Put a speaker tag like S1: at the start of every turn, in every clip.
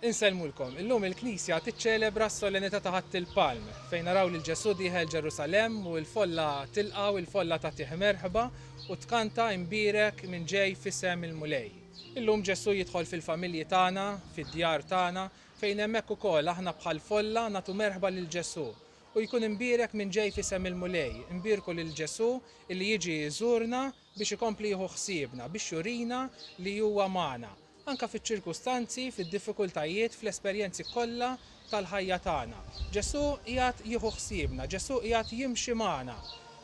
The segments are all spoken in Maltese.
S1: Insellmulkom. Illum il-Knisja tiċċelebra s-Solennità ta' Ħadd il-Palm, fejn naraw lil Ġesù dieħel Ġerusalemm u l-folla tilqgħu, il-folla tagħtih merħba u tkanta Imbierek min ġej f'isem il-Mulej. Illum Ġesù jidħol fil-familji tagħna, fid-djar tagħna, fejn hemmhekk ukoll aħna bħall-folla nagħtu merħba lil Ġesù u jkun imbierek min ġej f'isem il-Mulej. Imbierku lil Ġesù illi jiġi jżurna, biex ikompli jieħu ħsiebna, biex jurina li huwa magħna, anke fiċ-ċirkustanzi, fid-diffikultajiet, fl-esperjenzi kollha tal-ħajja tagħna. Ġesù qiegħed jieħu ħsiebna, Ġesù qiegħed jimxi magħna.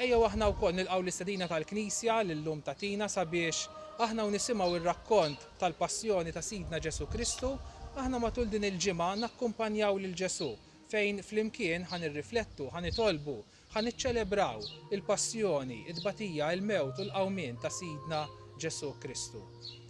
S1: Ejjew aħna wkoll nilqgħu l-istedina tal-Knisja li llum tagħtina sabiex aħna u nisimgħu r-rakkont tal-Passjoni ta' Sidna Ġesù Kristu, aħna matul din il-ġimgħa nakkumpanjaw lil Ġesù fejn flimkien ħa nirriflettu, ħa nitolbu, Ħa niċċelebraw il-passjoni, it-tbatija, il-mewt u l-qawmien ta' Sidna Ġesù Kristu.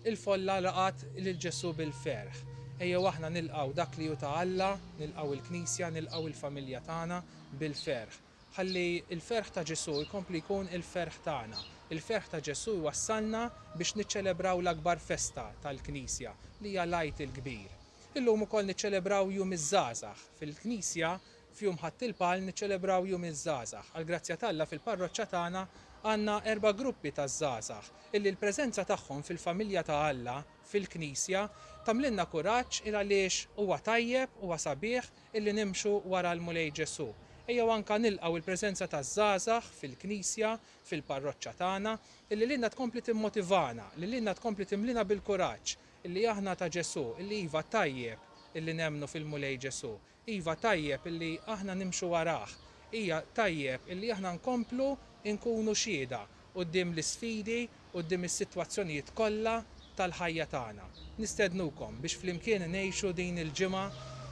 S1: Il-folla laqgħet lil Ġesù bil-ferħ. Ejjew aħna nilqgħu dak li hu ta' Alla, nilqgħu l-Knisja, nilqgħu il-familja tagħna bil-ferħ. Ħalli l-ferħ ta' Ġesù jkompli jkun il-ferħ tagħna. Il-ferħ ta' Ġesù jwassalna biex niċċelebraw l-akbar festa tal-Knisja, li hija l-Għid il-Kbir. Illum ukoll niċċelebraw Jum iż-Żgħażagħ. Fil-Knisja F'jum Ħadd il-Palm niċċelebraw Jum iż-Żgħażagħ. Għall-grazzja t'Alla fil-parroċċa tagħna għandna erba' gruppi taż-żgħażagħ illi l-preżenza tagħhom fil-familja ta' Alla, fil-Knisja, tagħmlilna kuraġġ il għaliex huwa tajjeb, huwa sabiħ illi nimxu wara l-Mulej Ġesù. Ejjew anka nilqgħu l-preżenza taż-żgħażagħ fil-Knisja, fil-parroċċa tagħna, illi lilna tkompli timmotivana, li lilna tkompli timlina bil-kuraġġ illi aħna ta' Ġesù, illi iva tajjeb illi nemmnu fil-Mulej Ġesù, Iva, tajjeb illi aħna nimxu warah. Hija tajjeb illi aħna nkomplu nkunu xhieda quddiem l-isfidi, quddiem is-sitwazzjonijiet kollha tal-ħajja tagħna. Nistednukom biex flimkien ngħixu din il-ġimgħa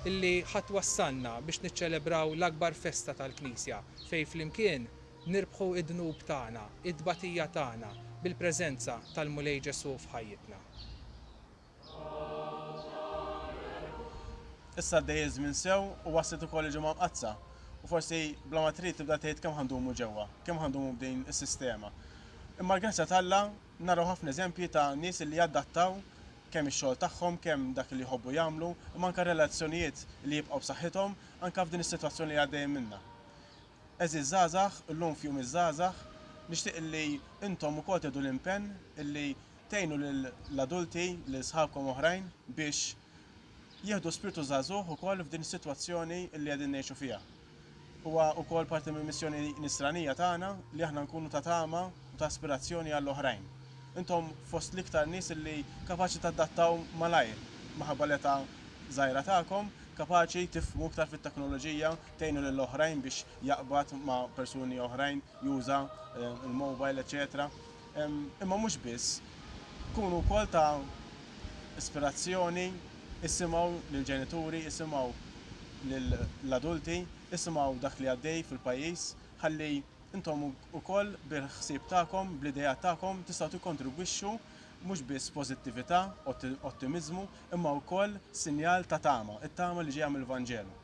S1: illi ħa twassalna biex niċċelebraw l-akbar festa tal-Knisja, fejn flimkien nirbħu d-dnub tagħna, it-tbatija tagħna, bil-preżenza tal-Mulej Ġesù f'ħajjitna.
S2: Issa għaddej iż-żmien sew u waslet ukoll il-Ġimgħa Mqaddsa. U forsi bla ma trid tibda tgħid kemm ħa ndumu ġewwa, kemm ħa ndumu b'din is-sistema. Imma l-grazzja t'Alla naraw ħafna eżempji ta' nies li jadattaw kemm ix-xogħol tagħhom, kemm dak li jħobbu jagħmlu, imma anke r-relazzjonijiet li jibqgħu b'saħħithom anke f'din is-sitwazzjoni li għaddejjin minnha. Għeżież żgħażagħ, illum f'Jum iż-Żgħażagħ, nixtieq illi intom ukoll tieħdu l-impenn illi tgħinu lill-adulti, lil sħabkom oħrajn biex jieħdu spirtu żagħżugħ ukoll f'din is-sitwazzjoni illi qegħdin ngħixu fiha. Huwa ukoll parti mill-missjoni nisranija tagħna li aħna nkunu ta' tama u ta' aspirazzjoni għall-oħrajn. Intom fost l-iktar nies illi kapaċi tadattaw malajr minħabba l-età żgħira tagħkom, kapaċi tifhmu iktar fit-teknoloġija, tgħinu lil oħrajn biex jaqbad ma' persuni oħrajn, juża l-mobile eċċetera. Imma mhux biss, kunu wkoll ta' ispirazzjoni, issimgħu lill-ġenituri, issimgħu lill-adulti, issimgħu dak li għaddej fil-pajjiż ħalli intom ukoll bil-ħsieb tagħkom, bl-ideat tagħkom tistgħu tikkontribwixxu mhux biss pożittività, ottimiżmu, imma wkoll sinjal ta' tama, it-tama li ġejja mill-Vanġelu.